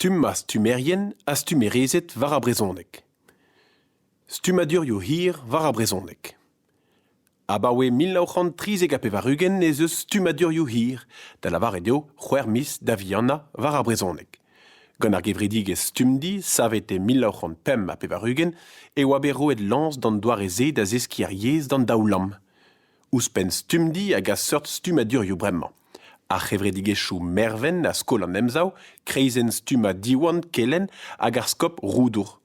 Stumm ar stummerien ha stummerezed war ar brezhoneg. Stummadurioù hir war ar brezhoneg. Abaoe mil nav c'hant trizek ha pevar-ugent ez eus stummadurioù hir, da lavaret eo c'hwec'h miz da vihanañ war ar brezhoneg. Gant ar gevredigezh Stumdi, savet e mil nav c'hant pemp ha pevar-ugent, e oa bet roet lañs d'an doare-se da zeskiñ ar yezh d'an daoulamm. Ouzhpenn stumdi a gas seurt stummadurioù bremañ. Ar c'hevredigezhioù Mervent ha Skol an Emsav, Kreizenn stummañ Diwan Kelenn hag ar skop Roudour.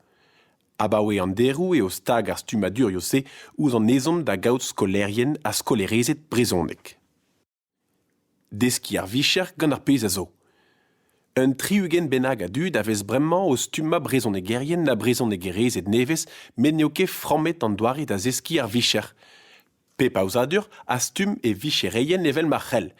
Abaoe an deroù eo stag ar stummadurioù-se ouzh an ezhomm da gaout skolaerien ha skolaerezed brezhoneg. Deskiñ ar vicher gant ar pezh a zo. Un tri-ugent bennak a dud a vez bremañ o stummañ brezhonegerien ha brezhonegerezed nevez met n'eo ket frammet an doare da zeskiñ ar vicher. Pep aozadur a stumm e vichereien evel ma c'hell.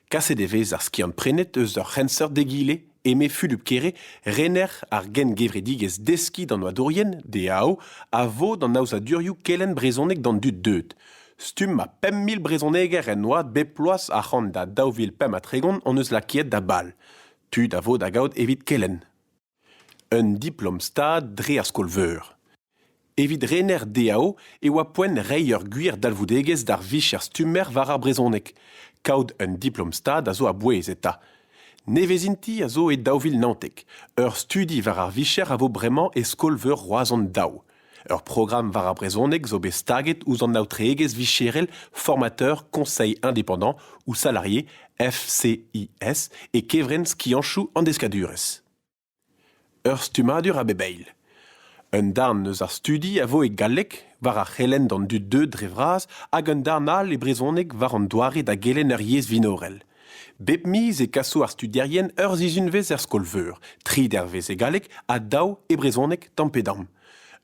Kaset e vez ar skiant-prenet eus ur c'henseurt d'egile. eme Fulup Kere, rener ar gengevredigezh Deskiñ d'an oadourien, DAO, a vo d'an aozadurioù kelenn brezhoneg d'an dud deuet. Stumm ha pemp mil brezhoneger en oad bep bloaz ac'hann da daou vil pemp ha tregont hon eus lakaet da bal. Tud a vo da gaout evit kelenn. Un diplom-stad dre ar skol-veur. Evit rener DAO e oa poent reiñ ur gwir dalvoudegezh d'ar vicher stummer war ar brezhoneg. Kaout un diplom-stad a zo a-bouez eta. Nevezinti a zo e daou vil naontek. Ur studi war ar vicher a vo bremañ e skol-veur Roazhon Daou. Ur programm war ar brezhoneg zo bet staget ouzh an aotreegezh vicherel formateur Conseil indépendant ou salarié FCIS e kevrenn skianchoù an deskadurezh. Ur stummadur a bep eil. Un darn eus ar studi a vo e galleg war ar c'helenn d'an dud deuet dre vras hag un darn all e brezhoneg war an doare da gelenn ur yezh vinorel. Bep miz e kaso ar studierien ur sizhunvezh er skol-veur, tri dervezh e galleg ha daou e brezhoneg tamm-pe-damm.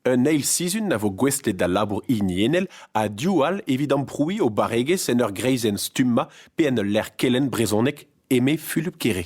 Un eil sizhun a vo gouestlet d'al labour hiniennel ha div all evit amprouiñ o barregezh en ur greizenn stummañ pe en ul lec'h kelenn brezhoneg, eme Fulup Kere.